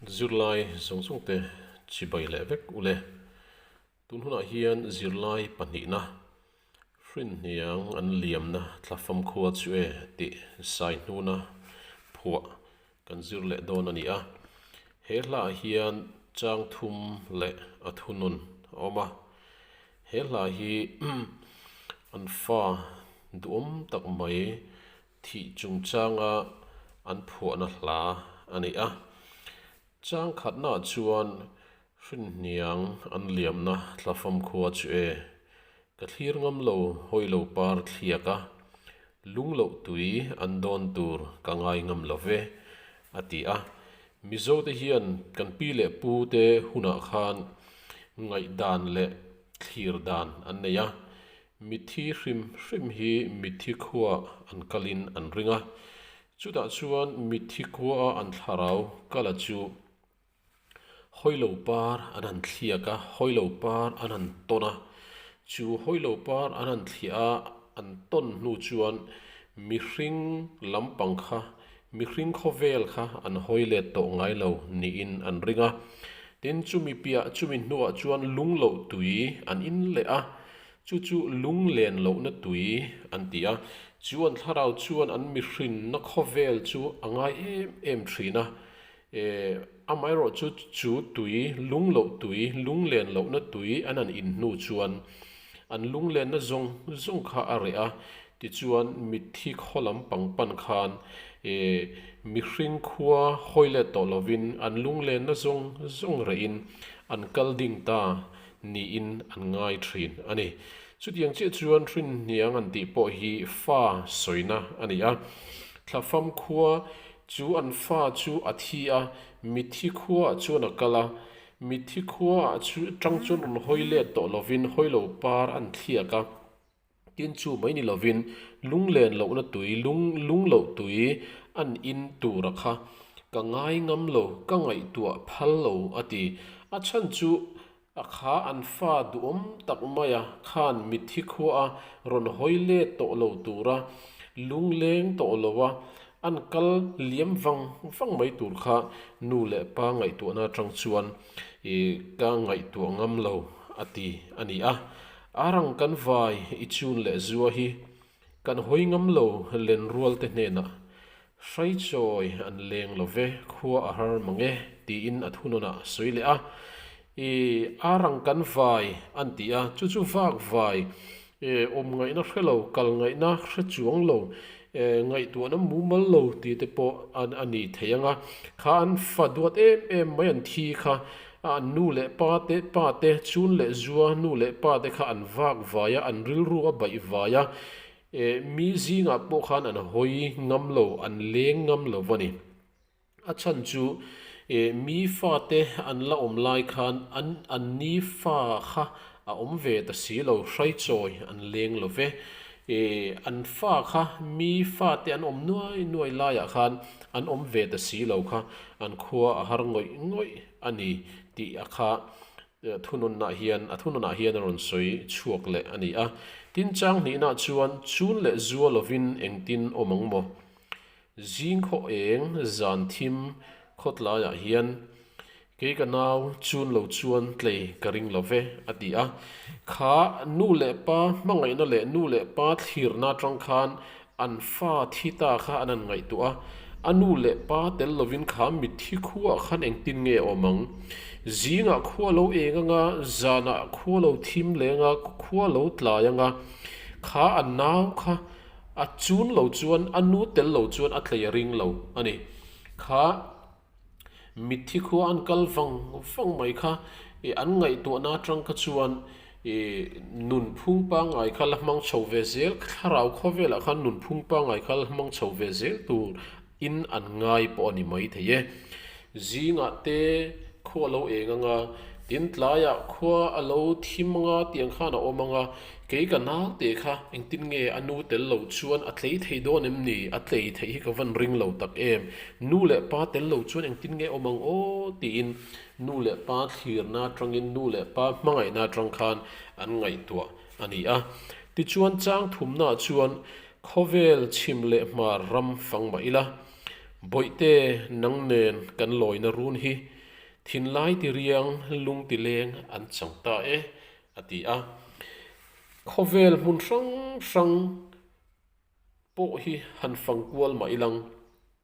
Zirlai zawng zawng te chibai leh vek u le. Tun hunah hian zirlai pahnihna hrinhniang an liamna thla fam khua chu e tih Saihnuna phuah kan zir leh dawn a ni a. He hlaah hian chang thum leh a thunun a awm a. He hla hi an fa duhawm tak mai thih chungchanga an phuahna hla a ni a, chang khatnaah chuan hrinhniang an liamna tlafam khua chu e, ka thlir ngam lo hawi lo par thliak a, lung loh tui an dawn tur ka ngai ngam lo ve, a ti a. Mizo te hian kan pi leh pu te hunah khan ngaih dan leh thlir dan an nei a, Mithi hrim hrim hi mithi khua an kalin an ring a, chutah chuan mithi khua a an thlarau kal a chu hawilo par an han thliak a, hawilo par an han tawn a, chu hawilo par an han thliah a an tawn hnu chuan mihring lampang kha, Mihring khawvel kha an hawi let tawh ngai lo niin an ring a. Tin, chumi piah chumi hnuah chuan lung loh tui an in leh a, chu chu lung len lohna tui an ti a. Chu an thlarau chuan an mihrinna khawvel chu a ngai em em thin a, E, amaherawh chu chu tui, lungloh tui, lunglen lohna tui an han in hnu chuan an lunglenna zawng zawng kha a reh a, tichuan mitthi khaw lam pangpan khan e, mihring khua hawi let tawh lovin an lunglenna zawng zawng rehin an kal ding ta niin an ngai thin a ni. Chutiang chiah chuan hrinhniang an tih pawh hi fa sawina a ni a, thlafam khua Chu an fa chu a thi a, mithi khuaah chuan a kal a. Mithi khuaah chu ṭang chuan rawn hawi let tawh lovin hawi lo par a an thliak a. Tin chu mai ni lovin lunglen lohna tui, lung lung loh tui a an in tur a kha. Ka ngai ngam lo, ka ngaihtuah phal lo a ti. A chhan chu A kha an fa duhawm tak mai a, khan mit hi khua a rawn hawi let tawh lo tur a, lung leng tawh lo a an kal liam vang vang mai tur kha nu leh pa ngaihtuahna atang chuan i ka ngaihtuah ngam lo a ti a ni a. Arang kan vai i chun leh zua hi Kan hawi ngam lo lenrualte hnenah, Hraichawi an leng lo ve, khua a har mang e, tiin a thunawn ah a sawi leh a. I a rang kan vai an ti a, chu chu vak vai e, awm ngaihna hre lo, kal ngaihna hre chuang lo, e ngaihtuahna mumal lo tite pawh a ni thei anga, kha an fa duat em em mai an thi kha A nu leh pa te, pa te, Chun leh Zua, nu leh pa te kha an vak vai a, an rilru a baih vai a, eh, mi zingah pawh khan an hawi ngam lo, an leng ngam lo a ni. A chhan chu, eh, mi fa te an la awm lai khan an, an ni fa kha a awm ve ta si lo, hraichawi an leng lo ve. E, an fa kha mi fate an awm nuai nuai laiah khan an awm ve ta si lo kha an khua a har ngawih ngawih a ni tih a kha thunawnah hian a thunawnah hian a rawn sawi chhuak leh a ni a. Tin Changhnihna chuan chun leh zual lovin engtin awm ang maw? Zing khawh eng zan thim khawt laiah hian kei ka nau chun lo chuan tlei ka ring lo ve a ti a. Kha nu leh pa hmangaihna leh nu leh pa thlirna atang khan an fa thi ta kha an han ngaihtuah a. A nu leh pa tel lovin kha mitthi khuaah khan engtin nge a awm ang? Zingah khua lo eng anga, zanah khua lo thim leng a, khua lo tlai anga kha a nau kha A chun lo chuan a nu tel lo chuan a tleih a ring lo a ni. Kha mithi khua an kal vang vang mai kha i an ngaihtuahna atang kha chuan i nunphung pangai kha la hmang chho ve zel, thlarau khaw velah khan nunphung pangai kha la hmang chho ve zel tur in an ngai pawh a ni maithei e. Zingah te khua a lo eng anga, tin tlaiah khua a lo thim anga tih ang khan a awm anga, kei ka nau teh kha engtin nge a nu tel lo chuan a tlei thei dawn em ni? A tlei theih hi ka van ring lo tak em! Nu leh pa tel lo chuan engtin nge a awm ang aw? tiin nu leh pa thlirna atangin nu leh pa hmangaihna atang khan an ngaihtuah. A ni a. Tichuan, chang thumnaah chuan khawvel chhim leh hmar ram fang mah ila, Bawihte nang nen kan lawina run hi thinlai ti riang lungti leng an chang ta e, a ti a. Khawvel hmun hrang hrang pawh hi han fang kual mah ilang,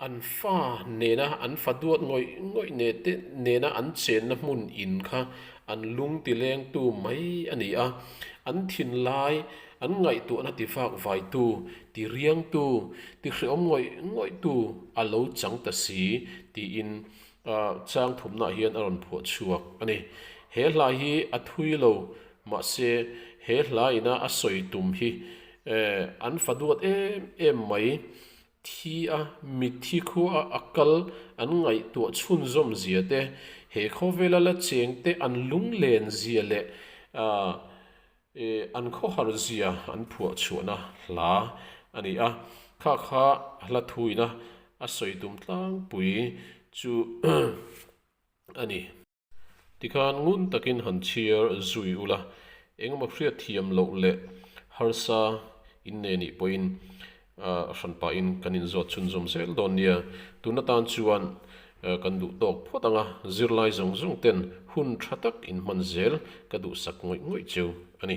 An fa nena an fa duat ngawih ngawih nete nena an chenna hmun in kha an lung ti lengtu mai a ni a, an thin lai, an ngaihtuahna ti fak vaitu, ti riangtu, ti hrehawm ngawih ngawihtu a lo chang ta si, tiin changthumnah hian a rawn phuah chhuak a ni. He hla hi a thui lo, mahse he hla ina a sawi tum hi an fa duat em em mai Thi a, mitthi khua a a kal an ngaihtuah chhunzawm zia te, he khawvela la cheng te an lunglen zia leh an khawhar zia an phuah chhuahna hla a ni a, khakha hla thuina a sawi tum tlangpui chu a ni. Tikhan ngun takin han chhiar zui ula, engemaw hriat thiam loh leh harsa inne nih pawhin hran pahin kan inzawt chhunzawm zel dawn nia. Tuna tan chuan kan duh tawk phawt anga zirlai zawng zawng ten hun tha tak inhman zel ka duhsak ngawih ngawih cheu a ni.